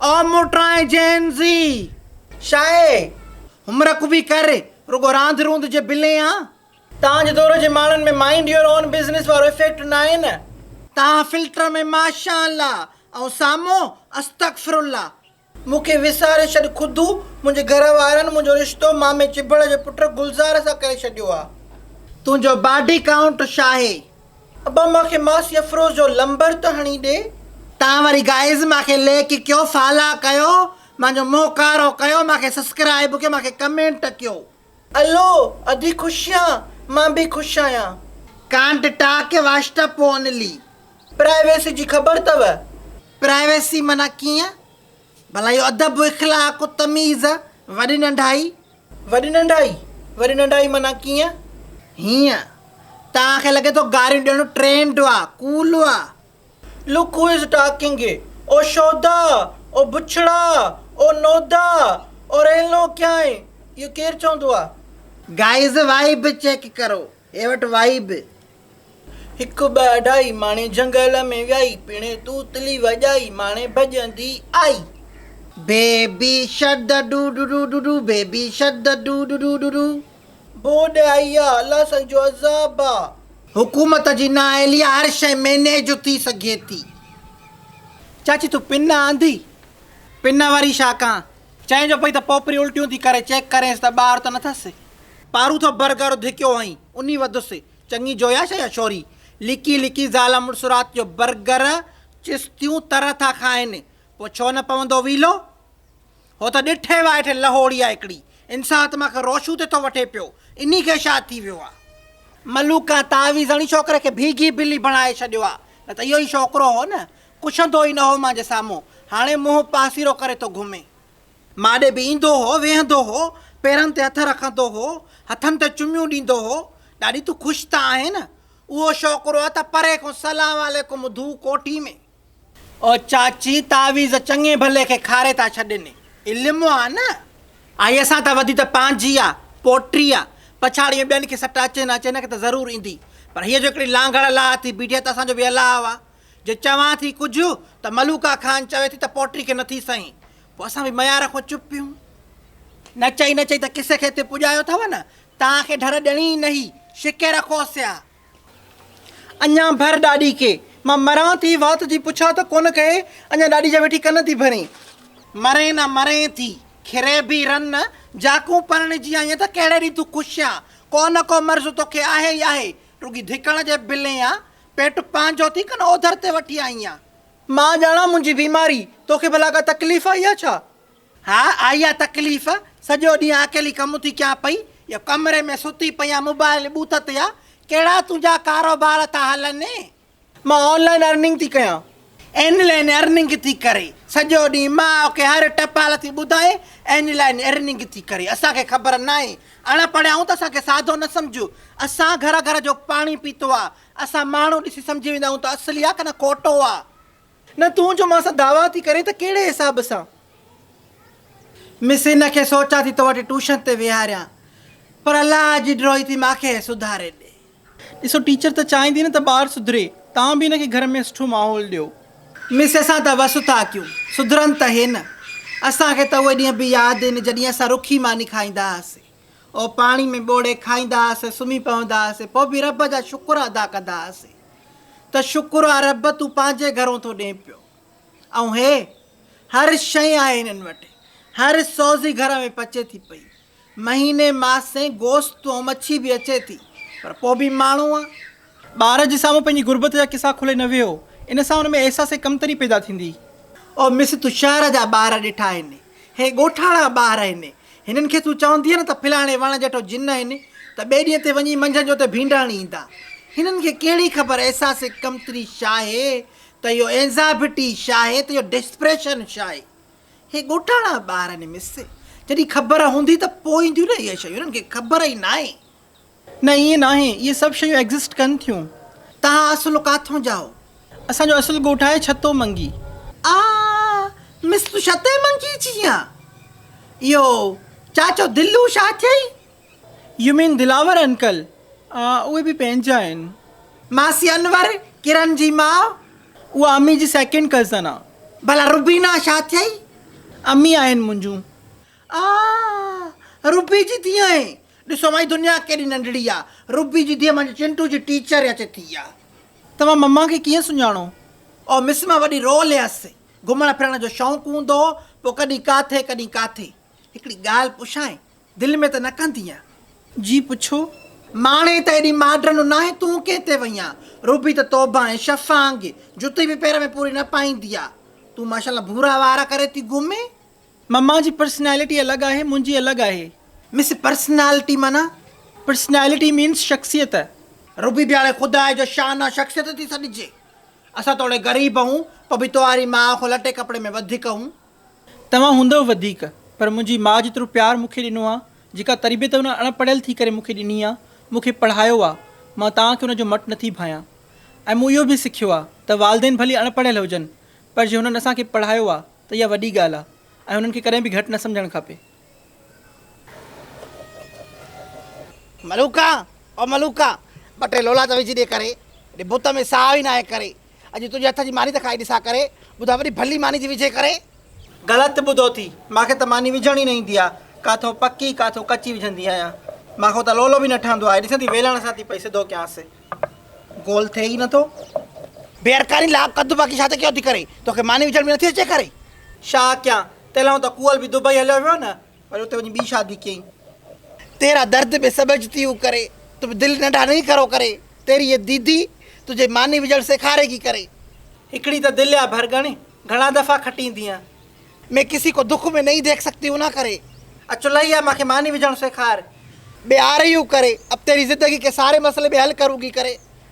او موٽرائين جين زي شاهي همرڪ وي ڪر رڳو راند روند جي بلين آ. تان جي دور جي ماڻهن ۾ مائينڊ يور اون بزنس وارو افيڪٽ ناهي نه. تان فلٽر ۾ ماشاء الله ۽ سامو استغفر الله. مون کي وساري ڇڏ خدو منهنجي گهر وارن منهنجو رشتو مامي چڀڙ جي پٽ گلزار سان ڪري ڇڏيو آ. تنهنجو باڊي ڪائونٽ شاهي. ابا مان کي ماسي افروز جو لمبر ته هڻي ڏي. تان وري گائيز مان کي ليڪ ڪيو فالا ڪيو مان جو مون ڪارو ڪيو مان کي سسڪرائب ڪيو مان کي ڪمينٽ ڪيو. الو ادي خوش يان مان بي خوش آهيان. ڪانٽ ٽاڪ واشٽپ اونلي. پرائيويسي جي خبر تؤ. پرائيويسي معنيٰ ڪيئن؟ ڀلا اهو ادب اخلاق تميز وڏي ننڍائي. وڏي ننڍائي، وڏي ننڍائي معنيٰ ڪيئن؟ هيئن، توهان کي لڳي ٿو گاريون ڏيڻو ٽرينڊ آ، ڪول آ. لوڪ هو از ٽاڪنگ اي، او شودا، او بڇڙا، او نودا، او ريلو ڪيائين، اهو ڪير چوندو آ؟ گائيز وائيب چيڪ ڪرو، هي وٽ وائيب هڪ ٻه اڍائي ماڻي جهنگل ۾ ويائي پڻهين توتلي وڄائي ماڻي ڀڄندي آئي. Baby shark doo doo doo doo doo baby shark doo doo doo doo doo. ٻوڏ آئي آ الله سائين جو عذاب آ. حڪومت جي نااهلي آ هر شيء مينيج ٿي سگهي ٿي. چاچي تون پن آندي پن واري شاخ کان چئين جو پئي ته پوپري الٽيون ٿي ڪري، چيڪ ڪرينس ته ٻار ته نٿس. پارو ٿو برگر ڌڪيو هئائين، انهي وڌس. چڱي جوئي آ ڇا اها شوري؟ لڪي لڪي زال مڙس رات جو برگر چستيون تر ٿا کائين. پوء ڇو نه پوندو ويلو؟ هو ته ڏٺي وائٺي لهوڙي آ هڪڙي. انسان آتما کي روشون تي ٿو وٺي پيو. انهي کي شا ٿي ويو آ؟ ملوڪان تعويذ هڻي ڇوڪري کي ڀيگي بلي بڻائي ڇڏيو آ. نه ته اهو ئي ڇوڪرو هو نه. پڇندو ئي نه هو مانجهه سامهون، هاڻي منهن پاسيرو ڪري ٿو گهمي. مان ڏي به ايندو هو، ويهندو هو، پيرن تي هٿ رکندو هو، هٿن تي چميون ڏيندو هو، ڏاڏي تون خوش ته آهين؟ اهو شوڪرو آ ته پري کان سلام عليڪم ڌو ڪوٺي ۾. او چاچي تعويذ چڱي ڀلي کي کاري ٿا ڇڏين، علم آ نه، آئيء سان ته وڌي ته پنهنجي آ، پوٽي آ، پڇاڙيء ۾ ٻين کي سٽ اچي نه اچي هن کي ته ضرور ايندي، پر هيء جو هڪڙي لانگهڙ لاهه ٿي بيٺي آ ته اسان جو به الاهه آ، جي چوان ٿي ڪجهه ته ملوڪا خان چوي ٿي ته پوٽري کي نه ٿي سئين، پوء اسان به ميار کان چپ پيون. نه چئي نه چئي ته قصي کي اتي پڄايو اٿئو نه، تان کي ڍر ڏيڻي ئي نهي، شڪي رکو سيا. اڃا ڀر ڏاڏي کي. مان مران ٿي، وات جي پڇا ته ڪونه ڪهي، اڃا ڏاڏي جا ويٺي ڪن ٿي ڀرين. مرين نه مرين ٿي، کري به رن نه، جاکون پرڻجي آئين ته ڪهڙي ڏينهن تون خوش آن، ڪو نه ڪو مرض توکي آهي ئي آهي، رڳي ڌڪڻ جي بلين آن، پيٽ پنهنجو ٿي ڪن اوڌر تي وٺي آئي آهيان. مان ڄاڻان منهنجي بيماري، توکي ڀلا ڪا تڪليف آئي آهي ڇا؟ ها آئي آهي تڪليف، سڄو ڏينهن اڪيلي ڪم ٿي ڪيان پئي، اهو ڪمري ۾ ستي پئي آهيان موبائل ٻوٿ تي آهي، ڪهڙا تنهنجا ڪاروبار ٿا هلن؟ مان آن لائين ارننگ ٿي ڪيان، آن لائن ارننگ ٿي ڪري سڄو ڏينهن ماء کي هر ٽپال ٿي ٻڌائي آن لائن ارننگ ٿي ڪري اسان کي خبر ناهي اڻ پڙهيا آهيون ته اسان کي ساڌو نه سمجھ اسان گهر گهر جو پاڻي پيتو آ اسان ماڻهو ڏسي سمجھي ويندا آهيون ته اصلي آ ڪنه کوٽو آ. نه تون جو مان سان دعويٰ ٿي ڪرين ته ڪهڙي حساب سان؟ مس هن کي سوچان ٿي تو وٽ ٽوشن تي ويهاريان پر الله جي ڊرو ئي ٿي مان کي سڌاري ڏي. ڏسو ٽيچر ته چاهيندي نه ته ٻار سڌري، توهان به هن کي گهر ۾ سٺو ماحول ڏيو. مس اسان ته وس اٿا ڪيون، سڌرن ته هي نه. اسان کي ته اهي ڏينهن به ياد آهن جڏهن اسان رکي ماني کائيندا هئاسين. اهو پاڻي ۾ ٻوڙي کائيندا هئاسين، سمهي پوندا هئاسين، پوء به رب جا شڪر ادا ڪندا هئاسين ته شڪر آ رب تون پنهنجي گهرون ٿو ڏين پيو. ۽ هي هر شيء آهي هنن وٽ، هر سوزي گهر ۾ پچي ٿي پئي. مهيني ماسين گوشت ۽ مڇي به اچي ٿي پر پوء به ماڻهو آ. ٻار جي سامهون پنهنجي غربت جا قصا کولي نه ويهو، ان سان ان ۾ احساس ڪمتري پيدا ٿيندي. او مس تو شهر جا ٻار ڏٺا آهن، هي ڳوٺاڻا ٻار آهن، هنن کي تون چوندينء نه ته ڦلاڻي وڻ جهٽو جن آهن ته ٻئي ڏينهن تي وڃي منجهند جو اتي ڀينڊاڻي ايندا. هنن کي ڪهڙي خبر احساس ڪمتري شاهي ته اهو اينزائبٽي شاهي ته اهو ڊسپريشن شاهي. هي ڳوٺاڻا ٻار آهن مس. جڏهن خبر هوندي ته پوء اينديون نه اهي شيون. انهن کي خبر ئي ناهي. نه ائين ناهي. اهي سڀ شيون ايگزسٽ ڪن ٿيون. توهان اصل ڪاٿون جا آهو؟ اسان جو اصل ڳوٺ آهي ڇتو منگي. آء مس تون ڇتي منگي جي آن. اهو چاچو دلو شا ٿيئي؟ يو مين دلاور انڪل اهي به پنهنجا آهن. ماسي انور ڪرن جي ماء. اها امي جي سيڪنڊ ڪزن آ. ڀلا روبينا ڇا ٿئي؟ امي آهن منهنجون. آ روبي جي ڌيء آهي. ڏسو مائي دنيا ڪيڏي ننڍڙي آ. روبي جي ڌيء مانجي چنٽو جي ٽيچر يا چي ٿي آ. توهان مما کي ڪيئن سڃاڻو؟ او مس مان وڏي رول هيس. گهمڻ ڦرڻ جو شوق هوندو هو. پوء ڪڏهن ڪاٿي ڪڏهن ڪاٿي. هڪڙي ڳالهه پڇانء؟ دل ۾ ته نه ڪندينء جي پڇو. ماڻي ته ايڏي ماڊرن نه ناهي تون ڪنهن تي وئينء. روبي ته توبه ۽ شفا آنگي جتي به پير ۾ پوري نه پائيندي آ. تون ماشاءالله ڀورا وار ڪري ٿي گهمين. مما جي پرسنالٽي الڳ آهي منهنجي الڳ آهي. مس پرسنالٽي معنيٰ؟ پرسنالٽي مينس شخصيت. روبي ڀيڻي خدا جو شانه شخصيت ٿي سڏجي. اسان توڙي غريب هئون پوء به توهاري ماء کان لٽي ڪپڙي ۾ وڌيڪ هئون. توهان هوندؤ وڌيڪ پر منهنجي ماء جيترو پيار مون کي ڏنو آ، جيڪا تربيت ان اڻ پڙهيل ٿي ڪري مون کي ڏني آ، مون کي پڙهايو آ، مان توهان کي ان جو مٽ نٿي ڀانيان. ۽ مون اهو به سکيو آ ته والدين ڀلي اڻ پڙهيل هجن پر جي هنن اسان کي پڙهايو آ ته اها وڏي ڳالهه آ ۽ هنن کي ڪڏهن به گهٽ نه سمجهڻ کپي. ملوڪا او ملوڪا ٻه ٽي لولا ته وجهي ڏي ڪري اڏي بت ۾ ساهه ئي ناهي ڪري اڄ تنهنجي هٿ جي ماني ته کائي ڏسان ڪري ٻڌاء وڏي ڀلي ماني ٿي وجهي ڪري. غلط ٻڌو ٿي ماکي ته ماني وجهڻ ئي نه ايندي آ ڪاٿو پڪي ڪاٿو ڪچي وجهندي آهيان ماکو ته لولو به نه ٺهندو آهي ڏسندي ويلڻ سان ٿي پئي سڌو ڪيانس گول ٿئي ئي نه ٿو بيرڪاري لاء قد باقي ڇا ته ڪيو ٿي ڪري توکي ماني وجهڻ به نه ٿي اچي ڪري ڇا ڪيان تنهنلاء ته ڪوئل به دبئي هليو ويو نه وري اتي وڃي ٻي شادي ڪيائين. تيرا درد به سمجھ تي هو ڪري تو به دل ننڍا نهين کرو ڪري تيري هي ديدي تجھي ماني وجھڻ سيکاري گي ڪري. هڪڙي ته دل يا ڀرڳڻي گھڻا دفعا کٽين ديان. مين ڪسي ڪو دک مين نهين ديک سڪتي هون نه ڪري. اچ چلائي يا مانکي ماني وجھڻ سيکار. به آ رهي هو ڪري اب تيري زندگي ڪي ساري مسئلي مين حل ڪرون گي ڪري.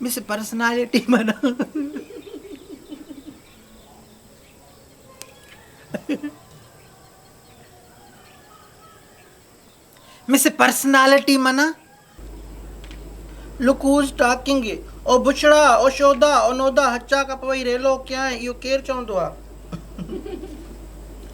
مس پرسنالٽي منان لڪ هوز ٽاڪنگ او بڇڙا او شودا او نودا هچا ڪپ وئي ريلو ڪيائين اهو ڪير چوندو آ.